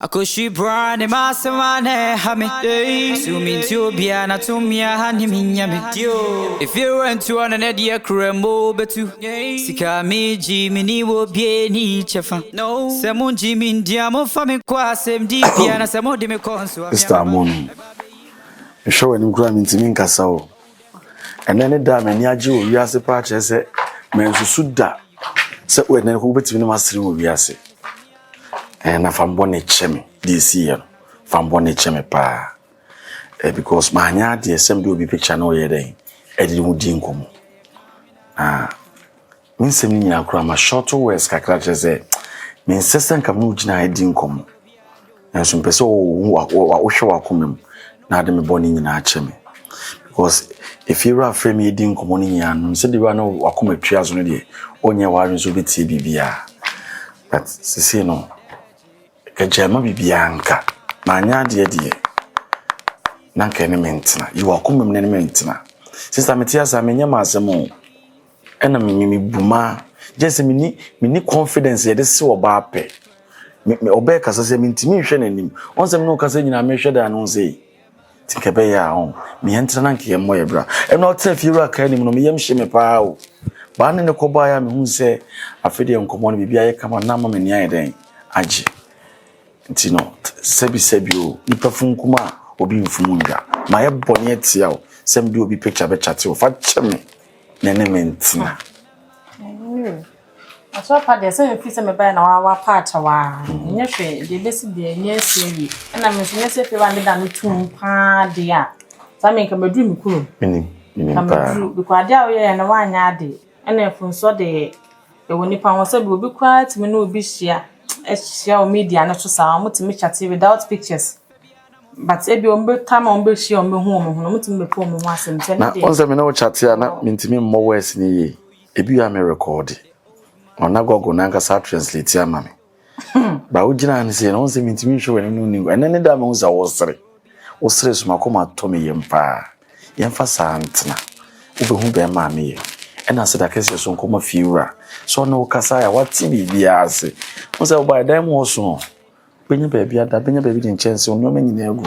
Akɔhwi bra ne m'asɛm a na ɛha me So mentie obiara na tumi a ha ne menya me Efie rɛntu ɔno ne deɛ kura mu bɛtu Sika a megye meni wɔ obiara ni kyɛfa Sɛ mongye me ndi a momfa me nkɔ asɛmdi bia Na sɛ mode me kɔ nso a me ara mɛba Mister Amonum, mehwɛ w'anim koraa mentumi nkasa o Ɛnnɛ ne da a m'ani agye wɔ wiase paa kyerɛ sɛ mansusu da sɛ ɛnnɛ wobɛtumi ne m'asere wɔ wiase Eh, na fa bɔne kyɛ me deɛ ɛsiiɛ no fa bɔne kyɛ me paa eh, because manyɛ adeɛ sɛ mede obi picture na ɔyɛ dɛn ɛde ho di nkɔmmɔ na me nsɛm no nyinaa koraa ma short words kakra kyerɛ sɛ mensɛ sɛ nka me wogyina ha di nkɔmmɔ nanso mpɛ sɛ wohwɛ wakoma mu na ade me bɔne nyinaa kyɛ me because ɛfie wura afrɛ me ɛdi nkɔmmɔ no nyinaa no sɛ de wura no wakoma tua so no deɛ ɔnyɛ w'adwene sɛ wobɛtie biribiaa But sesei no agya ma biribiara nka manyɛ adeɛ deɛ na nka ɛne me ntena yi wakoma mu na ɛne me ntena sista mete ase a menyɛ m'asɛm o ɛna me me bu ma gye sɛ meni meni confidence yɛde se ɔbaa pɛ me ɔbɛɛ kasa sɛ mentumi nhwɛ n'anim ɔnsɛm ne ɔkasa nyinaa mehwɛ daa no sɛ Nti nka ɛbɛyɛ a ɔn me yɛn tena na nka yɛn mmɔ yɛ bra. Ɛna ɔtena fie wura kaa anim no me yam hye me paa o. Baa ne ne kɔ baa yɛ a mehu sɛ afei deɛ nkɔmɔ no biribi ayɛ kama na ama m'ani ayɛ dɛn agye. Nti no sɛbi sɛbi o nipa funkum a obi mfum ndwa. Mayɛ bɔne atia o sɛ mede obi picture bɛkyate o fa kyɛ me na ɛne me ntena. Aso apa deɛ sɛ mefiri sɛ mebaeɛ na wa wapaakyɛw a ɛnyɛ hwee deɛ ɛbɛsi deɛ ɛnyɛ asi awie ɛna me nso nyɛ sɛ afei ba meda no tom paa deɛ a saa me nka maduru me kurom menim menim nka paa maduru bikɔ adeɛ a woyɛɛ no woanyɛ ade ɛna mfomsoɔ deɛ ɛwɔ nipa ho sɛ bi obi koraa tumi ne obi hyia ahyia wɔ media no so saa wɔtumi kyate without pictures but ebi wɔn bɛta ma wɔn bɛhyia wɔn bɛhu wɔn ho no wɔtumi bɛka wɔn ho asɛm sɛ ne na deɛ ɔn sɛ me ne wo kyate a na mentumi mmɔ wɛs ne yie Ebia me rekɔɔ de, na ɔna Google no ankasa atranslate ama me. Ba wogyina ano sei na wɔn sɛ mintumi nhwɛ w'anim no ni. Ɛnɛ ne da a mehu sɛ wosere. Wosere so makoma atɔ me yam paa. Yɛmfa saa ntena. Wobɛhu bɛrima a meyɛ. Ɛna ase da kɛseɛ so nkɔma fie wura. Sɛ ɔne wo kasa a wate biribiara ase. Hu sɛ wobaeɛ dan mu hɔ so. Bɛnya baabi ada, bɛnya baabi de nkyɛnse, nneɛma nyinaa agu.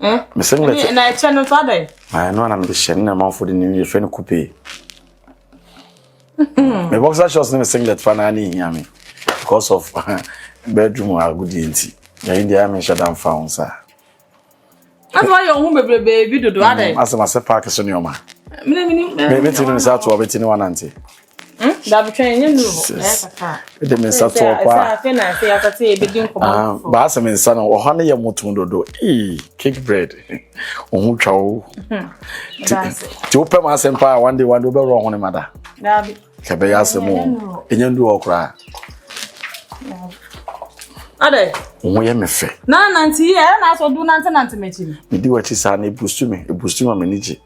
Eh? Me sɛ mɛkyɛ. Na ɛkyɛ no nso adɛn? Ah, ɛno na mede hyɛ no na amanfoɔ de no yɛfrɛ no kupe. Hmm. Me boxer shorts ne me singlet fa na ne hia me because of bedroom agodie nti. Na yi deɛ menhyɛ da mfa ho saa. Asa wa yɛ ohun bebrebe bi dodo hmm, adɛn? Asa ma sɛ paaki so nneɛma. Mene mene. Mɛ bɛ ti no nsa ato a bɛ ti no wa nante. de me nsa to ɔkɔ a ah, baasa me nsa no ɔhɔ no yɛ moto dodo ee cake bread ɔho twa o nti wopɛ ma asɛm paa one day one day wobɛwerɛ ɔho ne ma da kɛbɛyɛ asɛm o ɛnyɛ ndu hɔ koraa adɛ ɔho yɛ me fɛ na nante yɛ ɛna asɔ do nante nante m'akyi medi w'akyi saa na ebusu me ebusu ma m'ani gye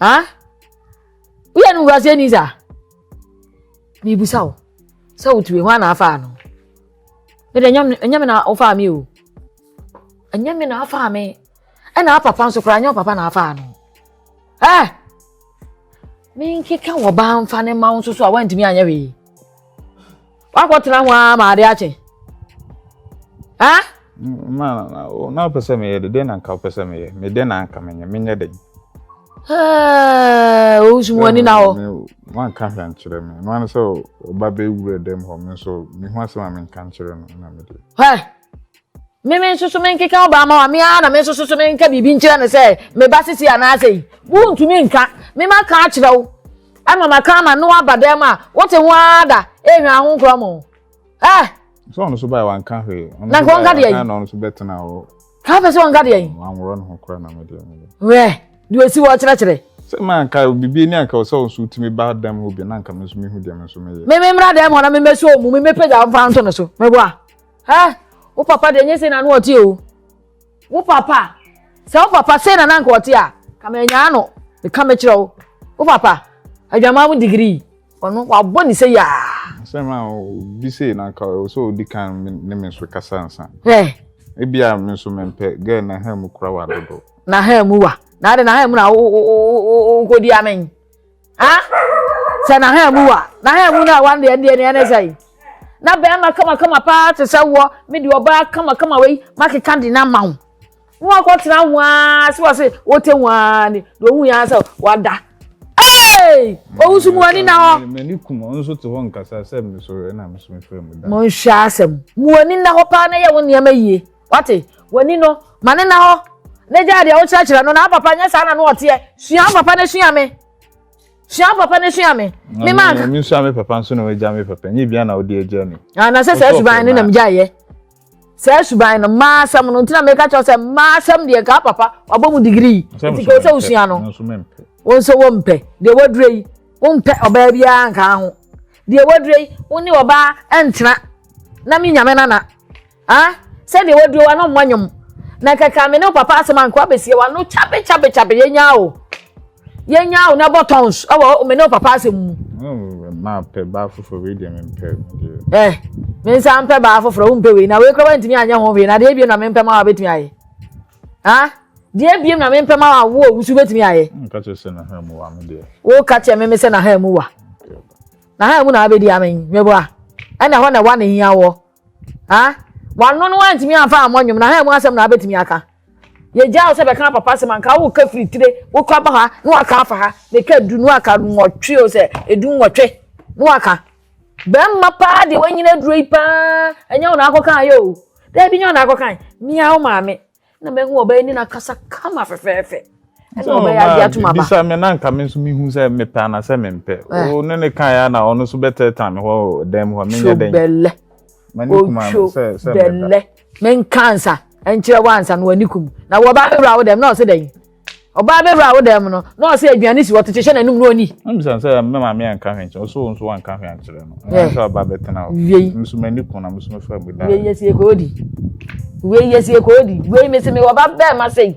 ha woyɛ no wurase ni sa mebisa wo sɛ wotue hɔ ana afaa no mede ɛnyɛ me na wofaa me o ɛnyɛ me na afaa me ɛna apapa nso koraa nyɛ papa na afaa no ɛ eh! menkeka wɔ baa mfa ne ma wo nso so a woantumi anyɛ wee Wakɔtena ho ara ma ade akye. Ha? Ma na na wopɛ sɛ meyɛ de dɛn na nka wopɛ sɛ meyɛ me dɛn na nka menyɛ menyɛ dɛn. Owusu mu ani na hɔ. Wanka hwɛ nkyerɛ me. No ano sɛ ɔba bɛwura dɛm hɔ me nso mehu asɛm a menka nkyerɛ no na mede. Hwɛ Me me nso so menkeka wo ba ma wa me ara na me nso so so menka biribi nkyerɛ no sɛ me ba sisi anaasɛ yi wontumi nka me ma ka akyerɛ wo ama ma ka ama no aba dɛm a wote ho ara da ehwɛ ho nkorɔ mo eh sɛ ɔno so bae wanka hwee na nka ɔnka deɛ yi na ɔno so bɛtena hɔ ka pɛ sɛ ɔnka deɛ yi wanworɔ no ho kora na medeɛ wɛ deɛ ɔsi wɔ kyerɛkyerɛ sɛ ma nka biribi ni anka sɛ ɔnso tumi ba dɛm hɔ bi na nka me nso mehu deɛ me nso meyɛ me me mmra dɛm hɔ na memɛsɛ ɔmu memɛpagya mfa nto no so meboa Ɛ, wo papa deɛ nyɛ sei na ano ɔte o. Wo papa, sɛ wo papa sei na nanka ɔte a, ka manyaa no, meka mekyerɛ wo. Wo papa, adwamaa mu digirii, ɔno wabɔ ne sei aa. Asɛm a obi sei na anka ɛwɔ sɛ odi kan ne me nso kasa ansa. Ɛ. Ebia me nso mempɛ, gɛɛ na ha mu kura wa dodo. Na ha mu wa, na ade na ha mu na wokɔdi amen. ha sɛ na ha mu wa na ha mu no a wande ɛdeɛ ne ɛne sɛ na bɛrima kamakama paa te sɛ woɔ me de ɔbaa kamakama wei makeka de no ama ho na wakɔtena ho aa sɛ wɔ se wote ho aa ne na ɔhu yɛ sɛ wada Hey! Owusu mu ani na hɔ. M'ani kum ɔno nso te hɔ nkasa sɛ mesɔre na mesome fɛ mu da. Monhwɛ asɛm. Mu ani na hɔ paa na yɛ wo nneɛma yie. Wate? W'ani no, ma no nna hɔ na gyaa deɛ wokyerɛkyerɛ no na wo papa nyɛ saa na no ɔteɛ. Sua wo papa na sua me. Sua wo papa na sua me. Me ma nka. Me sua me papa nso na wagya me papa. Nyɛ bia na wode agya ni. Ah, na sɛ saa suban no na megyaeɛ. Saa suban no, mmaa asɛm no nti na meka kyerɛ sɛ mmaa asɛm deɛ nka papa wabɔ mu digrii. Nti ka wo sɛ wosua no. Wo nso wompɛ. Deɛ wadure yi, wompɛ ɔbaa biara nka ho. Deɛ wadure yi, wo ne ɔbaa ntena na me nyame nana. Ah, sɛdeɛ waduro wa no mmɔ nwom. Na kaka me ne wo papa asɛm anko abɛsie wa no kyabe kyabe kyabe yɛnya o. Yɛnya o na bɔ tons ɛwɔ me ne wo papa asɛm mu. Maa pɛ baa foforɔ wei deɛ mempɛ deɛ. Ɛ eh, me nsa mpɛ baa foforɔ wompɛ wei na wei kora wantumi anyɛ ho wei na deɛ ebiem na mempɛ ma wabɛtumi ayɛ. Ah, deɛ ebiem na mempɛ ma wawo a wusu bɛtumi ayɛ. Woka kyerɛ sɛ naha mu wa me deɛ. Woka kyerɛ me me sɛ naha mu wa. Naha mu na abɛdi amɛn meboa. Ɛna hɔ na wa ne hia wɔ. Ha? Wano no wantumi amfa ammɔ nnwom na ha mu asɛm na abɛtumi aka. Yɛgyaa wo sɛ bɛka papa asɛm anka woka firi tire wokɔ ba ha na waka afa ha meka du no aka nwɔtwe o sɛ ɛdu nwɔtwe na waka. Bɛmma paa deɛ wanyina aduro yi paa ɛnyɛ wo na akɔkan yɛ o. Daabi nyɛ wo na akɔkan. Mia wo maame. na mɛhu ɔbɛyɛ ne nakasa kama fɛfɛɛfɛ ɛna ɔbɛyɛ adi atum aba bisa me na nka me nso mehu sɛ mepɛ anasɛ mempɛ eh. o ne ne kan ya na ɔno nso bɛtɛɛtan me hɔ dɛn mu hɔ menyɛ dɛn bɛlɛ otwo bɛlɛ menka nsa nkyerɛ wo ansa na w'ani kum na wɔba wura wo dɛm na ɔsɛ dɛn ɔbaa bɛwura wo dan mu no na ɔsɛ aduane si hɔ te hyehyɛ n'anom na ɔni. mbisa sɛ me maame anka hwee nkyɛn ɔsɛ wɔn nso wanka hwee ankyerɛ no wɔn nso aba abɛtena hɔ wiei nso m'ani kun na nso mefa mu da wiei yɛ sie kɔɔ di wiei yɛ sie kɔɔ di wiei mesi mi wɔ ba bɛrima sɛ yi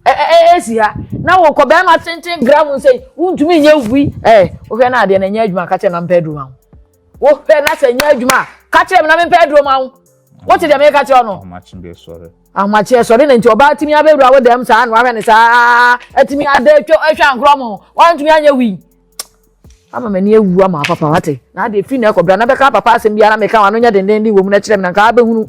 ɛɛ esi ha na wɔ kɔ bɛrima tenten gram sɛ yi wuntumi nyɛ wui ɛɛ wohwɛ n'adeɛ na nyɛ adwuma kakyɛ na mpɛ aduru ma ho. wohwɛ na sɛ nyɛ adwuma a ka kyerɛ me na mempɛ aduro ma wo wote deɛ meka kyerɛ no ahomakyeɛ sɔre na nti ɔbaa tumi abɛwura wo dɛm saa na wahwɛ ne saa atumi ada atwa ahwɛ ankorɔ mo wantumi anyɛ wii ama m'ani awu ama papa wate na adeɛ firi na ɛkɔbra na bɛka papa asɛm biara meka wano nyɛ dendenden wɔ mu na kyerɛ me na nka abɛhunu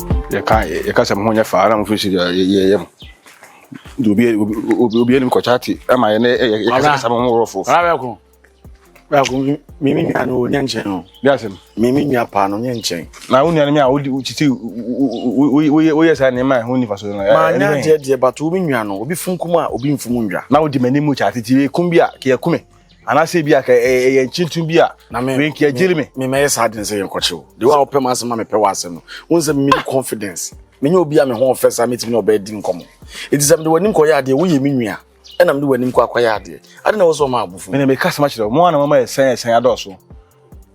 yɛka yɛka sɛ mo ho nyɛ faa na mo fi si yɛ yɛ yɛ mo de obi obi obi anim kɔkya te ɛma yɛ ne yɛ yɛ kasa kasa mo ho wɔrɔ fofo. ɔlá bɛ kun bɛ kun mi mi nua no nyɛ nkyɛn o. bí a sɛm. mi mi nua paa no nyɛ nkyɛn. na wo nua no mi a o di o titi o o o o yɛ saa nneɛma a ɛho nifa so no. maa nya deɛ deɛ bato o mi nua no obi funkum a obi nfum ndwa. na o di m'anim kya titi ekum bi a kì í ɛkume. anaasɛ ebi aka ɛyɛ nkyintum bi a wenki agyiri me memɛyɛ saa den sɛ yɛnkɔkye wo de wo a wopɛ m'asɛm ma mepɛ w'asɛm no wo nsɛ me mini confidence menyɛ obi a me ho ɔfɛ saa metumi ne ɔbɛ di nkɔmmɔ ɛti sɛ mede w'anim kɔyɛ adeɛ woyɛ me nua ɛna mede w'anim kɔ akɔyɛ adeɛ ade na wɔ sɛ ɔma abofo mene meka sɛm akyerɛ wo mo a na mama ɛsɛn ɛsɛn adɔɔso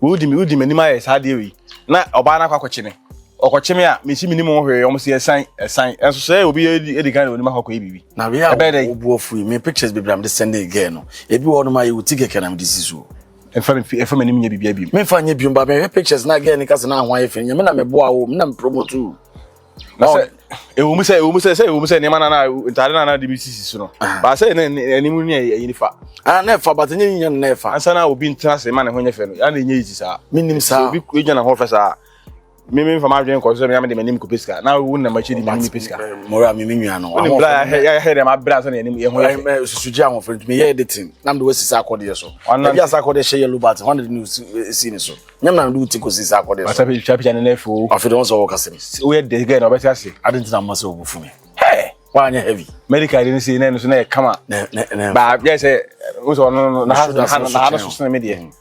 Wodi me, wodi m'anim ayɛ saa adeɛ wei, na ɔbaa no akɔ akɔkye me. Ɔkɔkye me a, mensi menim ho hwee, wɔn se ɛsan, ɛsan. Ɛnso sɛ obi edi, edi kan de onim akɔ akɔyɛ biribi. Na wei a Ɛbɛyɛ dɛn? wobu afu yi, me pictures bebree a mede sɛndee girl no, ebi wɔ hɔnom a ɛyɛ wo ti kɛkɛ na mede si so o. Ɛmfa me mfi, ɛmfa m'anim nyɛ biribiara bio. Memfa nyɛ bio, but mehwɛ pictures no a girl no ka sɛ n'aho ayɛ fɛ no, nyɛ me na meboaa wo o, me na me promote wo o. na sɛ ɛwɔ mu sɛ ɛwɔ mu sɛ sɛ ɛwɔ mu sɛ nneɛma nana ntaade nana de bi sisi so no baa sɛ ne anim ne ɛyɛ nifa ana na ɛfa bata nyɛ nyɛ na ɛfa ansa na obi ntena ase ma ne ho nyɛ fɛ no ya na ɛnyɛ yi saa menim saa obi gyina ne ho fɛ saa me me nfa m'adwene nkɔ so sɛ me de m'anim kɔ pesika na wo na m'akyi de m'anim pesika mora me me nua no wɔn bra yɛ yɛ dɛ m'abra sɛ ne anim yɛ ho yɛ fɛ susu gye ahoɔfɛ ntumi yɛ editing na me de wɔsi saa akɔdeɛ so ɛbi asa akɔdeɛ hyɛ yellow button wɔn de ne si ne so nyɛ na do ti kosi sa akɔde so asa bi twa pia ne na fo afi de so wɔka sɛm si woyɛ de gɛ na ɔbɛte ase ade ntina mma sɛ ɔbu fumi hɛ wanyɛ heavy medical de ne sei na ɛno so na ɛkama ba yɛ sɛ wo sɛ ɔno na ha no so sene me deɛ mm.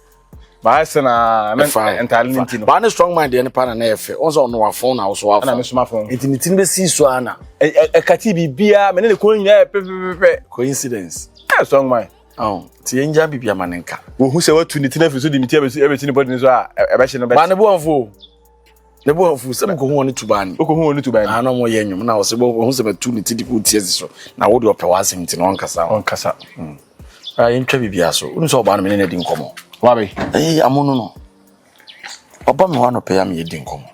baa sɛ na ntaade no nti no baa ne strong mind deɛ ne pa na na yɛfɛ ɔn sɛ ɔno wafon na woso wafon na mesoma fon nti ne tini bɛsi so ana ɛkate biribiaa mene ne kɔn nyinaa pɛpɛpɛpɛ coincidence strong mind Ao, nti yɛngya biribi ama no nka. Wɔhu sɛ watu ne tiri afiri so de me ti abɛsi ne bɔdene so a, ɛbɛhye no bɛte. Maa ne bo amfu o. Ne bo amfu sɛ mekɔhu wɔn ne tuban ni. Wokɔhu wɔn ne tuban ni? Aa na wɔyɛ nnwom na wɔsɛ wɔhu sɛ matu ne ti de kɔɔ ti asi so na wode ɔpɛ w'asɛm nti na ɔnkasa. Ɔnkasa. Hmm. Aa yɛntwa biribiara so. Wonu sɛ ɔbaa no me ne no adi nkɔmmɔ. Wabe? Ee, amono no. Ɔba me hɔ anɔpɛ yi a meyɛ di nkɔmmɔ.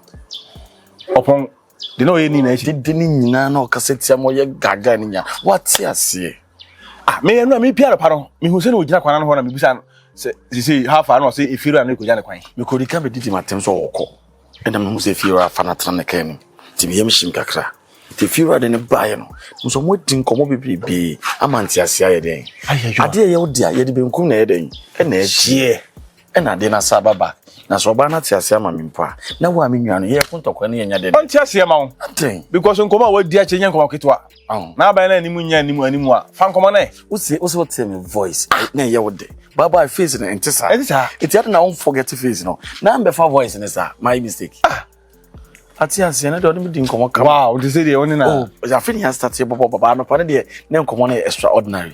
Ɔpɔn. de na ɔyɛ ni na ɛhyɛ dede ne nyinaa na ɔkasa tia ma ɔyɛ gaga ne nyinaa wate aseɛ ah meyɛ no a me pia no pa no mehu sɛ na ɔgyina kwan no hɔ na mebisa no sɛ sisi ha fa na ɔsɛ efiri a na ɛkɔgya ne kwan mekɔdi ka bɛdi di matem sɛ ɔkɔ ɛna mehu sɛ efiri afa no atena ne kan no nti meyɛ me hyem kakra nti efiri ade no baeɛ no nso ɔmo adi nkɔmmɔ bebrebe ama nteaseɛ ayɛ dɛn adeɛ yɛ wo dea yɛde benkum na ɛyɛ dɛn ɛna ɛkyeɛ Ɛna ade no asa aba back. Na sɛ ɔbaa no ate aseɛ ama me mpo a, na wo a me nua no, yɛyɛ ko ntɔkwa ne yɛnya dɛdɛ. Ɔnte aseɛ ma wo. Adɛn? Because nkɔmmɔ a wadi akyɛ nyɛ nkɔmmɔ ketewa. Ɔho. Na aban no anim nyɛ anim anim a, fa nkɔmmɔ no ɛ. Wose, wose wotee me voice, na ɛyɛ wo dɛ. Bye bye, face no ɛnte saa. Ɛnte saa. Enti adɛn na wo forget face no, na mbɛfa voice no saa? Mayɛ mistake? Ah! Ate aseɛ, ɛnɛ deɛ ɔne me di nkɔmmɔ kama. Wow, ɔte sɛ deɛ ɔne na. Oh, afei ne yɛn start yɛbɔbɔ baba, anɔpa no deɛ, na nkɔmmɔ no yɛ extraordinary.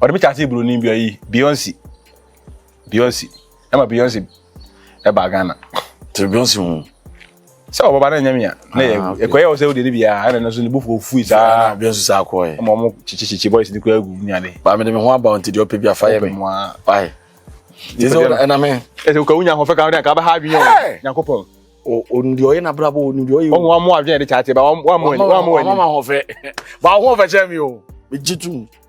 Ɔde me kyaase buroni bi ɔyi Beyonce. Beyonce. Ɛma Beyonce ɛba Ghana. Te Beyonce mu. Sɛ ɔbaba na nyame a na yɛ ah, ɛkɔyɛ ɔsɛ wode ne bia ɛna no so ne bofo fui saa Beyonce saa kɔɛ. Ɛma ɔmo kyekyekye boys ne kura gu nyade. Ba me de me ho aba nti deɛ ɔpɛ bi afa yɛ me. Why? Ɛsɛ ɛna me. Ɛsɛ ka wonya ho fɛ ka wode ka bɛha adwene yɛ. Nyankopɔn. Ondi ɔyɛ na brabo ondi ɔyɛ. Ɔmo amo adwene de kyate ba ɔmo ɔmo ɔmo ɔmo. Ɔmo ma ho fɛ. Ba ho fɛ kyɛ mi o. Me jitu.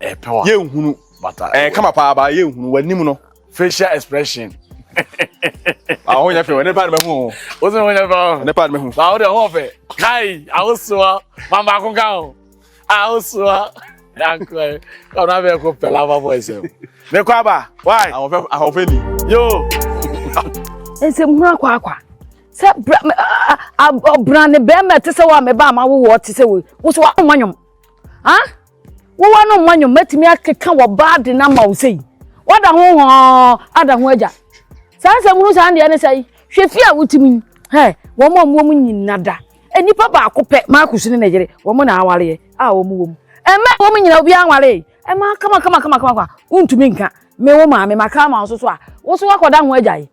yɛnhunu ɛɛ kama paa ba yɛnhunu w'anim no. facial expression. awo ah, nya fɛ wɔ ne paadi bɛ hu o. o sɛ o nya fɛ o. ne paadi bɛ hu. awo ah, de ɔwɔ fɛ kai awo sua maa maa ko kan o awo ah, sua yankɔ ye ɔno abɛ ko pɛlɛ afa bɔ ɛsɛ o. ne kɔ aba wai. awɔ fɛ awɔ fɛ ni. yoo. nsɛm hu akɔ akɔ sɛ bra ɔbra ne bɛrima te sɛ wɔ a mɛ ba a ma wowɔ te sɛ wɔ wosɔ wa ɔmɔ nyɔm. Wowɔ no mma nnwom bɛtumi akeka wɔ ba ade no ama wo sei. Woada ho hɔɔ ada ho agya. Saa nsɛm hunu saa deɛ ne sɛ yi, hwɛ fie a wotim yi, hɛ, wɔn a wɔwɔ mu nyina da. Nnipa baako pɛ, Marcus ne ne yere, wɔn na awareɛ a wɔn wɔ mu. Ɛmma wɔn nyina obiara nwaree. Ɛmma kama kama kama kama kama, wontumi nka, me wo maame, maka ama wo so so a, wo so woakɔda ho agya yi.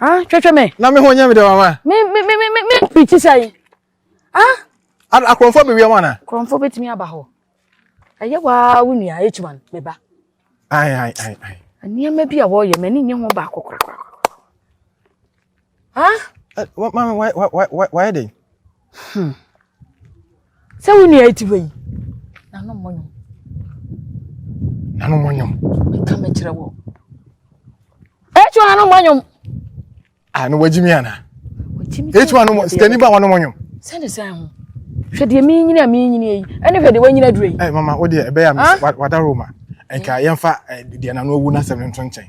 Ah, hwehwɛ me. Na me ho nyɛ me dɛ mama. Me me me me me preach sɛn. Ah. Akorɔmfo bɛ wia wana. Akorɔmfo betumi aba hɔ. Ɛyɛ waa wo nua H1 me ba. Ai ai ai ai. Nneɛma bi a wɔyɛ m'ani nye ho baako korakora. Ah. Mama why why why why dɛn? Hmm. Sɛ wo nua ti hɔ yi, nano mmɔ nwom. Nano mmɔ nwom. Meka mekyerɛ wɔ. Etu nano mmɔ nwom. Ah, no wagyi mi ana? Wagyi mi. Etu nano mmɔ, sikani ba wɔn mmɔ nwom. Sɛ ne sɛ ho. Hwɛ deɛ mi nyini a mi nyini yi, ɛne hwɛ deɛ wanyini aduro yi. Ɛ eh, mama, o deɛ ɛbɛyɛ a mi wadaro ma. Nka yɛn fa eh, deɛ nano awu n'asɛm no nto nkyɛn.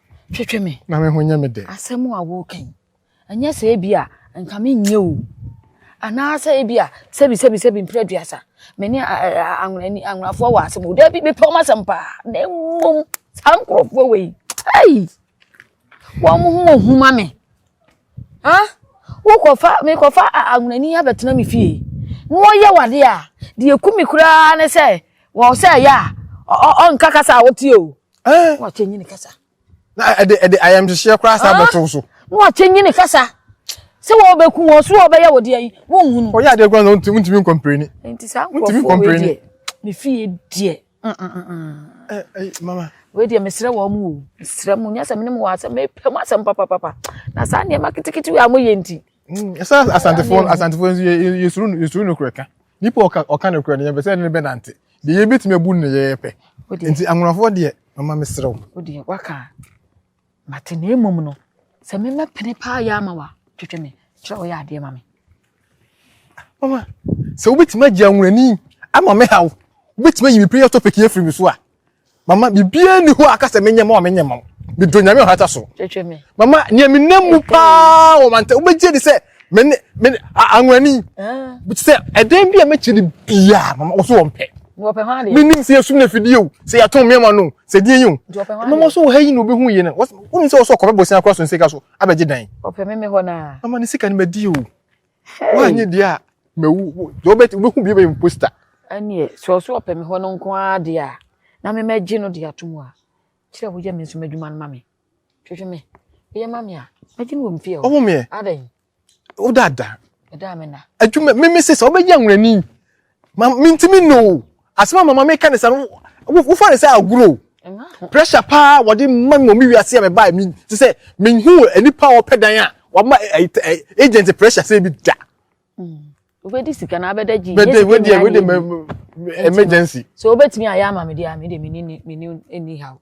twetwe me na me ho nyɛ me dɛ asɛm a woka yi ɛnyɛ sɛ ebi a nka menyɛ o anaasɛ ebi a sɛbi sɛbi sɛbi mprɛ duasa me ne anwonani anwonafoɔ wɔ asɛm o daabi mepɛ wɔn asɛm paa na mmom saa nkurɔfoɔ wɔ yi ɛyi wɔn ho wɔ huma me ha wokɔfa mekɔfa anwonani abɛtena me fie na wɔyɛ wade a deɛ ku me koraa ne sɛ wɔn sɛ ɛyɛ a ɔnka kasa a wotie o. Eh. Na ɔkyɛ nyini kasa. Na ɛde ɛde ayamhyehyeɛ koraa saa ah. bɛtow so. Na ɔkyɛ nyini kasa. Sɛ wɔbɛku wɔn so wɔbɛyɛ wɔ deɛ yi wɔnhunu. Ɔyɛ adeɛ koraa na ɔntumi ntumi nkɔmpreni. Nti saa nkurɔfoɔ wei deɛ me fie deɛ. Mm, mm, mm, eh, eh, mama. Wei deɛ mesrɛ wɔn mu o. Mesrɛ mu nyɛ sɛ menim wɔ asɛm mepɛ mu asɛm papapapa. Na saa nneɛma ketekete wei a moyɛ nti. Ɛsɛ asantefoɔ asantefoɔ nso yɛsuru no korɛ ka. Nipa ɔka ɔka no korɛ no yɛn bɛ sɛ ɛne ne bɛ nante. Deɛ yɛbɛtumi abu no yɛyɛ pɛ. Nti anwonafoɔ deɛ mama mesrɛ wo. Wodeɛ waka mate na mmom no sɛ mema pene paa yɛ ama wa twetwe me kyerɛ ɔyɛ adeɛ ma me. Mama sɛ wobɛtumi agye anwonani ama me haw wobɛtumi ayi me prayer topic yɛ firi me so a. Mama, biribiara nni hɔ a aka sɛ menyɛ ma wo a menyɛ mma wo. Medɔ Nyame ɔhata so. Twetwe me. Mama, nea menam mu paa wɔ mantam, wobɛgye adi sɛ me ne, me ne, anwani. Ah. Sɛ ɛdɛn bi a mɛkyɛ no biara, mama, wɔso wɔn pɛ. Wɔpɛ ho adeɛ. Menim sɛ yɛsum no afidie o, sɛ yɛato mmeɛma no o, sɛ deɛ yi o. Nti wɔpɛ ho adeɛ. Mama, so wɔ ha yi na obɛhu yɛ no. Wonim sɛ wɔso ɔkɔbɛ bosia kora so nsika so abɛgye dan. Wɔpɛ me me hɔ naa. Mama, ne sika no madi o. woanyɛ deɛ a mawu wobɛhu bi wobɛyɛ poster ɛneɛ sɛ ɔso ɔpɛ me hɔ no nko ara deɛ a na me mɛgye no de ato mu a kyerɛ woyɛ me nso m'adwuma no ma me hwehwɛ me woyɛ ma me a mɛgye no wɔ mfie hɔ ɔwo meɛ adɛn wo dada ɛda me na adwuma me me sesa wobɛgye anwurani Ma mintimi nnɔ o. Asɛm a mama meka ne sɛ no wofa ne sɛ agorɔ o. Pressure paa wɔde ma me wɔ me wiase a mebae me te sɛ menhu nipa a ɔpɛ dan a wama agent pressure sɛ bi da. Wobɛdi sika na abɛda gyi. Bɛde wede wede emergency. So wobɛtumi ayɛ ama me deɛ a me deɛ mene mene ɛni ha o.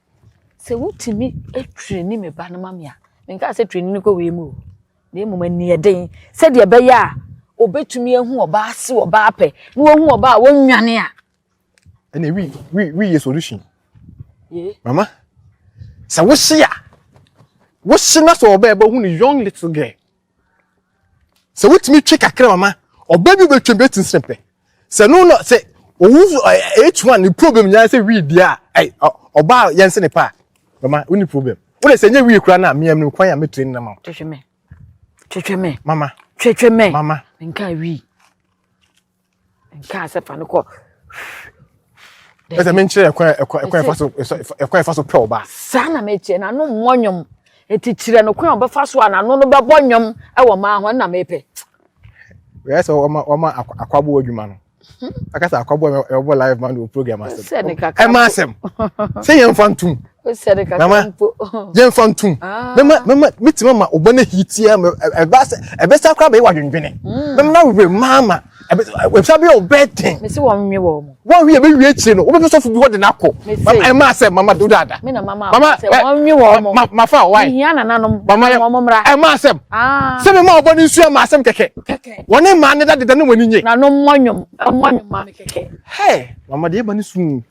Sɛ wotumi traini me ba no ma me a, menkaa sɛ traini no kɔ wei mu o, na mmom aniɛden sɛdeɛ ɛbɛyɛ a obetumi ahu ɔbaa ase ɔbaa pɛ na wahu ɔbaa a wɔnwane a. ɛna wi wi wi yɛ solution. mama sɛ wohye a wohye na sɛ ɔbaa ɛbɛhu no young little girl. Sɛ wotumi twe kakra mama ɔbaa bi bɛtwam bi ati nsene pɛ. Sɛ no na sɛ owu H1 ne problem nyinaa sɛ wii deɛ a ɔbaa yɛn sene pa a mama wonni problem. Wode sɛ nyɛ wii koraa no a meam no kwan a mɛtire no nama wo. Twetwe me. Twetwe me. Mama. Twetwe me. Mama. Nka wii. nkaa sɛ fa no kɔ ɛsɛ menkyerɛ ɛkwan ɛfa so ɛkwan ɛfa so pɛ ɔba saa na mekyerɛ na no mmɔ nnwom nti kyerɛ no kwan ɔbɛfa so a n'ano no bɛbɔ nnwom ɛwɔ maa ho ɛna mepɛ wɛɛ sɛ ɔma ɔma akwaboɔ adwuma no akasa akwaboɔ ɛwɔ live man wɔ program asɛm ɛma asɛm sɛ yɛmfa ntom yɛmfa ntom mɛma mɛtumi ama ɔbɔ no hitia ɛbɛsa koraa bɛyɛ wadwendwene mɛma no awerɛ maa ma ɛbɛsa bɛyɛ ɔbɛɛ den wɔnwe yɛ bɛwie akyire no wobɛpɛ sɔfo bi hɔ de no akɔ ɛma sɛ mama do dada mama mafa ɔwae ɛma asɛm sɛ mema ɔbɔ no nsu ɛma asɛm kɛkɛ wɔne mmaa ne dadeda ne wɔne nye mama deɛ ɛba no suu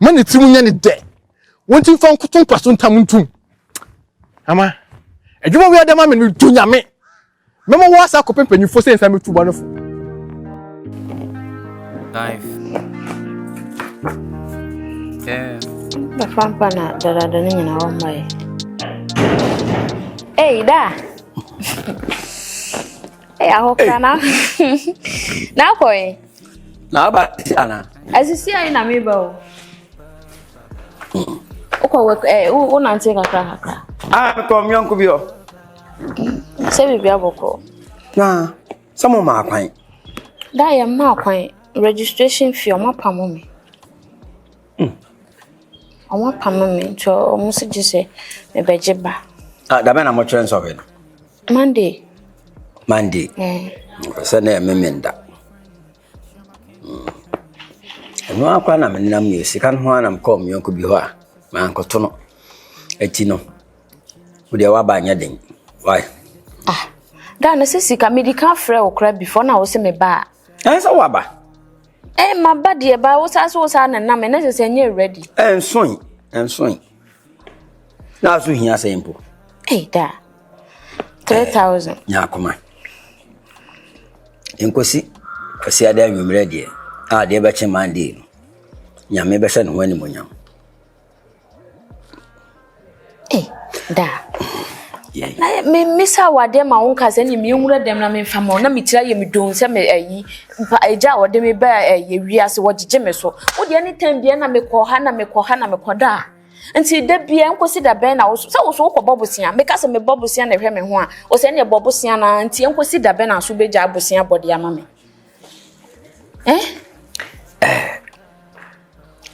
Ma ne tirim nyɛ ne dɛ. Wɔn ti mfa nkoto mpa so ntam ntum. Ama adwuma wei ada ma me no du nyame. Mɛma wɔ asa akɔpɛ mpanyinfoɔ sɛ nsa mɛtu bɔ no fo. Life. Yeah. Bɛfa mpa na dadada no nyinaa wɔmma yɛ. Ei, da! Ei, ahokra na. Na kɔe. Na aba si ana. Asisi ayi na me ba o. Wokɔ wɔ eh wo nante kakra kakra. Ah kɔ mi onko bi o. Sɛ bibi abɔkɔ. Na sɛ mo ma kwan. Da yɛ ma kwan registration fee ɔma pam me. Ɔma pam me nti ɔmo se gye sɛ mebɛgye ba. Ah da bɛ na mo kyerɛ nsɔhwɛ no. Monday. Monday. Sɛ na ɛme me nda. Mm. Ɛno ara koraa na menam yɛ sika no ho ara na mekɔɔ me yɔnko bi hɔ a mankɔto no. Ɛti no, wo deɛ waba nyɛ den. Why? Ah, da no sɛ sika medi ka frɛ wo koraa before na wo se me ba a. Ɛn sɛ waba? Ɛn ma ba deɛ ba wo saa so wo saa na nam ɛnɛ sɛ sɛ nyɛ ready. Ɛnsoe, ɛnsoe. na so hia sɛ mpo ei da 3000 eh, nya akoma nkosi kwasiada anwummerɛ deɛ a deɛ bɛkye monday no nyame bɛhyɛ ne ho animonyam ei da mesa wadeɛ ma wo nka sɛ ne menwura dɛm na memfa ma na metira yɛ medon sɛ me ayi Mpa agya a ɔde me baa ɛyɛ wiase wɔgyegye me so wo deɛ ne tɛn bia na mekɔ ha na mekɔ ha na mekɔ da nti da bia nkosi da bɛn na wo sɛ wo so wokɔ bɔ bosea meka sɛ mebɔ bosea na ɛhwɛ me ho a wo sɛ ne ɛbɔ bosea na nti nkosi da bɛn na so bɛgya bosea bɔde ama me eh eh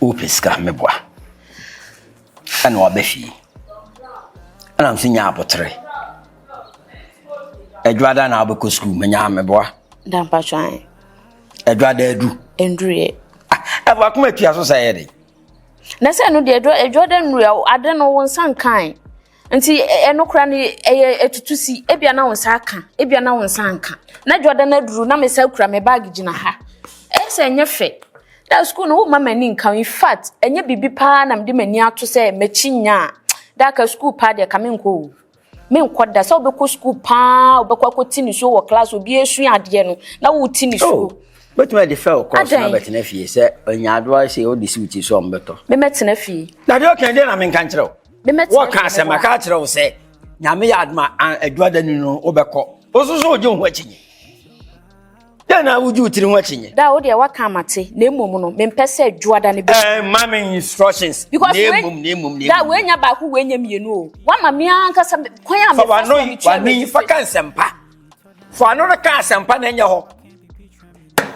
wopɛ sika meboa na waba fie ɛna nso nya abotere adwada na wabɛkɔ sukuu menya meboa dampatwan adwada adu nduruyɛ ah, ɛfo akoma atua so sɛ ɛyɛ de na sɛ ɛno deɛ adwada nnuruyɛ ade no wo nsa nkan nti ɛno kora no ɛyɛ ɛtutu si ebia na wo nsa aka ebia na wo nsa nka na adwada no aduru na me sa kura me baage gyina ha ɛsɛ ɛnyɛ fɛ Daa sukuu no womma m'ani nka in fact ɛnyɛ biribi paa na mede m'ani ato sɛ m'akyi nya a daa ka sukuu paa deɛ ka menkɔ o menkɔ da sɛ wobɛkɔ sukuu paa wobɛkɔ akɔti nisuo wɔ class obi ɛsua adeɛ no na woti nisuo oh. bɛtumi de fɛ ɔkɔ so na bɛtena fie sɛ ɔnya adoa sɛ ɔde si woti so ɔmbɛtɔ memɛtena fie na deɛ ɔka deɛ na menka nkyerɛ wo wɔka sɛ maka akyerɛ wo sɛ nyame yɛ adoma aduada ni no wobɛkɔ wo so so wogye wo ho akyinye Dɛn na wodwi wo tiri ho akyinnye? Daa wo deɛ waka ama te, na mmom no, mempɛ sɛ dwoada no bɛsi. Ɛɛ, ma me instructions. Because na mmom, na mmom, na mmom. Daa wei nyɛ baako, wei nyɛ mmienu o. Wama me ankasa kwan a mefa so a metua. Fa w'ano yi, fa ka nsɛmpa. Fa w'ano no ka asɛmpa na ɛnyɛ hɔ.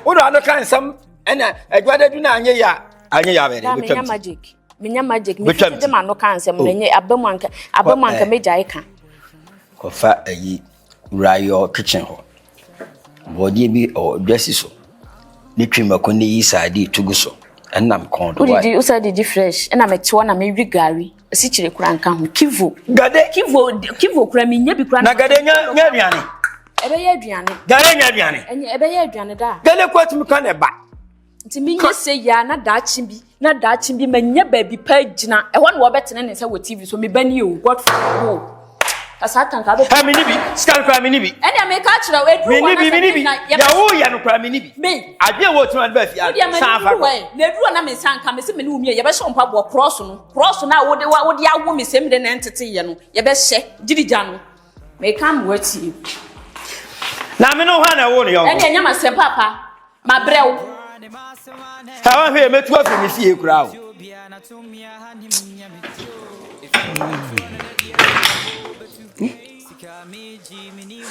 Wode w'ano ka nsɛm ɛna adwada du na anyɛ yɛ a, anyɛ yɛ a bɛyɛ dɛ, bɛtwa mu ti. Menya magic, menya magic, mefiri de m'ano ka nsɛm na oh. ɛnyɛ abamu anka, abamu anka eh. mɛgyae ka. Kɔfa ayi. Wura yi ɔwɔ kitchen hɔ. Borɔdeɛ bi ɔwɔ dwa si so. Ne twi mako ne yi saa de tugu so. Ɛnam kɔn do. Wodidi wosa didi fresh. Ɛna mɛtewa na mɛwi gari. Asikyire kura nka ho. Kivo. Gade. Kivo kivo kura mi nya bi kura. Na gade nya nya aduane. Ɛbɛyɛ aduane. Gade nya aduane. Ɛnyɛ ɛbɛyɛ aduane daa. Gade kɔ atumi ka na ɛba. Nti menyɛ sɛ yia na daakye bi na daakye bi manya baabi pa gyina ɛhɔ na wɔbɛtene ne nsa wɔ tv so meba ni o god wo ka saa tanka bɛ ha mene bi sika no koraa mene bi ɛnea meka kyerɛ wo ɛduru hɔ na mene bi deɛ woyɛ no koraa mene bi me adeɛ wɔ tumi ade baafi ade san fa kɔ na ɛduru hɔ na me nsa nka me se mene wo mie yɛbɛhyɛ wo mpaboa krɔɔso no krɔɔso no a wode wode awo me sɛm de na ɛnteteyɛ no yɛbɛhyɛ gyirigya no meka mmoa tie na mene wo ha na ɛwo no yɔnko ɛnea nyama sɛ papa Mabrɛ wo. Ɛ wahwɛ yɛ mɛtu afiri me fie koraa o.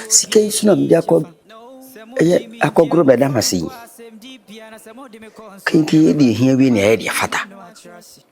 Sika yi so na mede akɔ ɛyɛ akɔgoro bɛda mase yi. Kente yɛ deɛ hia wie na ɛyɛ deɛ fata.